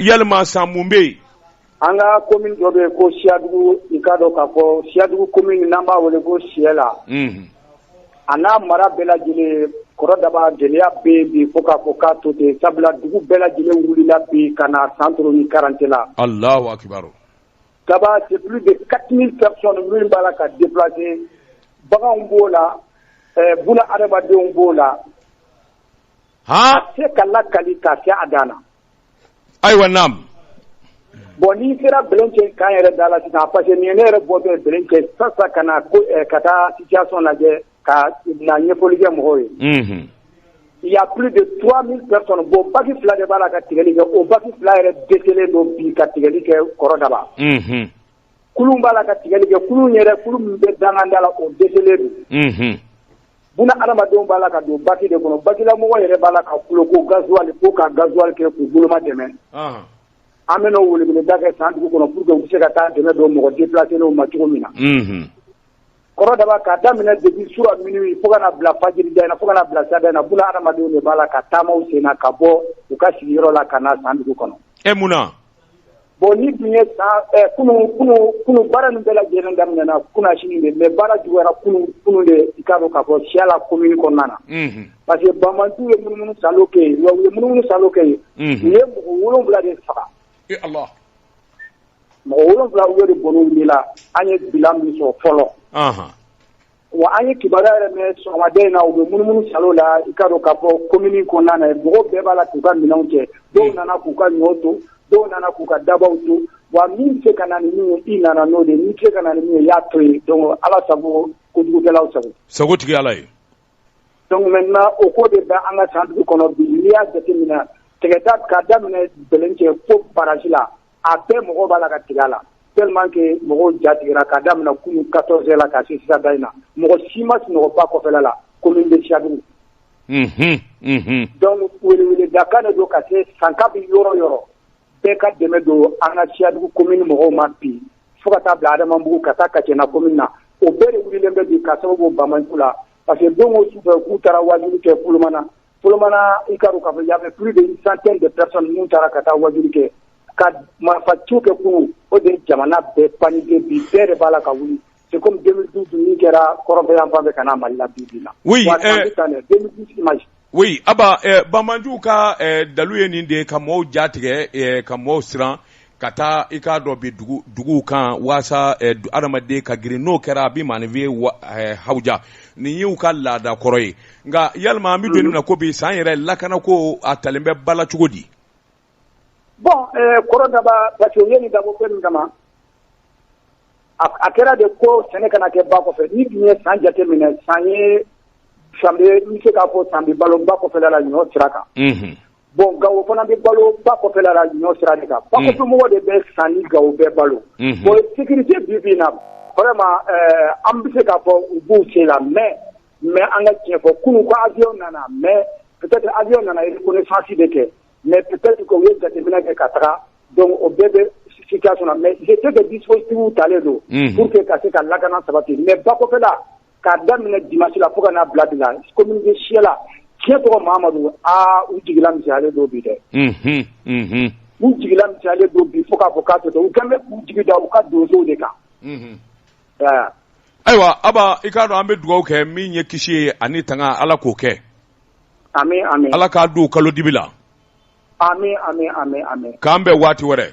yalama san mun bɛ yen an ka commune dɔ bɛ yen ko siyadugu i k'a dɔn k'a fɔ siyadugu commune n'an b'a wele ko siyɛla a n'a mara bɛɛ lajɛlen kɔrɔ daba gɛlɛya bɛ bi fo k'a fɔ k'a to ten sabula dugu bɛɛ lajɛlen wulila bi ka na santoro ni karantela allahu akbar daba c'est plus de 4000 personnes min b'a la ka déplacer baganw b'o la buna adamadenw b'o la a tɛ se ka lakali ka se a dan na ayiwa naamu bon n'i sera bɛlɛncɛ k'an yɛrɛ da la sisan parce que nin ye ne yɛrɛ bɔ bɛ bɛlɛncɛ sa sa ka na ko eh, ka taa situation lajɛ ka na ɲɛfɔli kɛ mɔgɔw ye mhm. il y a plus de 3000 personnes bon baki fila de b'a la ka tigɛli kɛ o baki fila yɛrɛ dɛsɛlen don bi ka tigɛli kɛ kɔrɔ daba mhm. kulun b'a la ka tigɛli kɛ kulun yɛrɛ kulun min bɛ danganda la o dɛsɛlen don mhm. Buna adamadenw b'a la ka don baki de kɔnɔ, bakilamɔgɔ yɛrɛ b'a la ka kulo ko gasoil ko ka gasoil kɛ k'u boloma dɛmɛ, ɔnhɔn, an bɛna o weleweleda kɛ san dugu kɔnɔ pour que u bɛ se ka taa dɛmɛ don mɔgɔ déplacélenw ma cogo min na, unhun, kɔrɔdaba k'a daminɛ depuis sura minuit fo ka na bila fajiri da in na, fo ka na bila sa da in na, buna adamadenw de b'a la ka taama u sen na ka bɔ u ka sigiyɔrɔ la ka na san dugu kɔnɔ. E mun na? bon ni dun ye sa kunu kunu kunu baara nin bɛɛ lajɛlen daminɛna kunasini de mais baara juguyara kunu kunu de i k'a dɔn k'a fɔ siyɛla commune kɔnɔna na mhm. parce que banbaanciw ye munumunu salo kɛ yen wa u ye munumunu salo kɛ yen mhm. u ye mɔgɔ wolonwula de faga ala mɔgɔ wolonwula u y'o de bɔn'u ni la an ye bilan min sɔrɔ fɔlɔ Wa an ye kibaruya yɛrɛ mɛn sɔgɔmada in na u bɛ munumunu salo la i k'a dɔn k'a fɔ commune kɔnɔna na yen mɔgɔw bɛɛ b'a la k'u ka minɛnw cɛ dɔw nana k'u ka ɲɔ to dɔw nana k'u ka dabaw to wa min bɛ se ka na ni min ye i nana n'o de ye n'i tɛ se ka na ni min ye i y'a to yen donc Ala sago kojugukɛlaw sago sago tigi ye Ala ye donc maintenant o ko de bɛ an ka san dugu kɔnɔ bi n'i y'a jateminɛ tigɛda k'a daminɛ Bɛlɛncɛ fo barrage la a bɛɛ mɔgɔw b'a la ka tigɛ a la tellement que mɔgɔw jatigɛra ka daminɛ kunun 14 heures la ka se sisan da in na, mɔgɔ si ma sunɔgɔ ba kɔfɛla la commune de Siyadugu, unhun, unhun, donc weleweledakan de don ka se sanka bɛ yɔrɔ o yɔrɔ bɛɛ ka dɛmɛ don an ka Siyadugu commune mɔgɔw ma bi fo ka taa bila Adamanbugu ka taa Kacɛna commune na o bɛɛ de wulilen bɛ bi ka sababu bɔ banbaanciw la parce que don o su fɛ k'u taara waajuli kɛ Folomana Solomana i ka ka fɔ yafe pur de san kɛ de psa ninnu taara ka taa wadu kɛ ka marifa tu kɛ kun o de jamana bɛɛ pan bi bɛɛ de b'a la ka wuli se kɔmi den du dun kɛra kɔrɔbɔyan fan bɛ ka' mali la bi bi a banjuw ka dalu ye nin de ye ka mɔgɔw jatigɛ ka mɔgɔw siran ka taa i k'a dɔn bi dugu duguw kan walasa eh, du- adamaden ka girin n'o kɛra a bɛ maanifiye wa- eh, hawuja nin y'u ka laada kɔrɔ ye nka yalima an bɛ don min na ko bi San yɛrɛ lakana ko a talen bɛ ba la cogo di bon eh, kɔrɔ Daba parce que u ye nin dabɔ fɛn min kama a a kɛra de ko sɛnɛ kana kɛ ba kɔfɛ n'i dun ye San jate minɛ San ye San bɛ n bɛ se k'a fɔ San bɛ balo ba kɔfɛla la ɲɔ sira kan Mhm. Bon ga fana bɛ balo ba kɔfɛ ɲɔ sira de kan bamɔgɔ de bɛ san ni ga bɛɛ balo bon sigilen bi bi na an bɛ se ka fɔ u b'u sen la mɛ mɛ an ka tiɲɛ fɔ kunun ko awy nana mɛ awy nana i ko fasi de kɛ mɛ u ye jateminɛ kɛ ka taga dɔnku o bɛɛ bɛ si mɛ tɛ bɛ disitigiw talen don ka se ka lakana sabati mɛ ba kɔfɛ k'a daminɛ dimanche la fo ka n'a bila de la commune de Siɛla tiɲɛ tɔgɔ Mamadu aa u jigila misɛnyalen don bi dɛ unhun unhun u jigila misɛnyalen don bi fo k'a fɔ k'a sɔtɔ u kan bɛ k'u jigi da u ka donsow de kan unhun ɛɛ ayiwa Aba i k'a dɔn an bɛ dugawu kɛ min ye kisi ye ani tanga Ala k'o kɛ ami ami Ala k'a don u kalo dibi la ami ami ami ami k'an bɛn waati wɛrɛ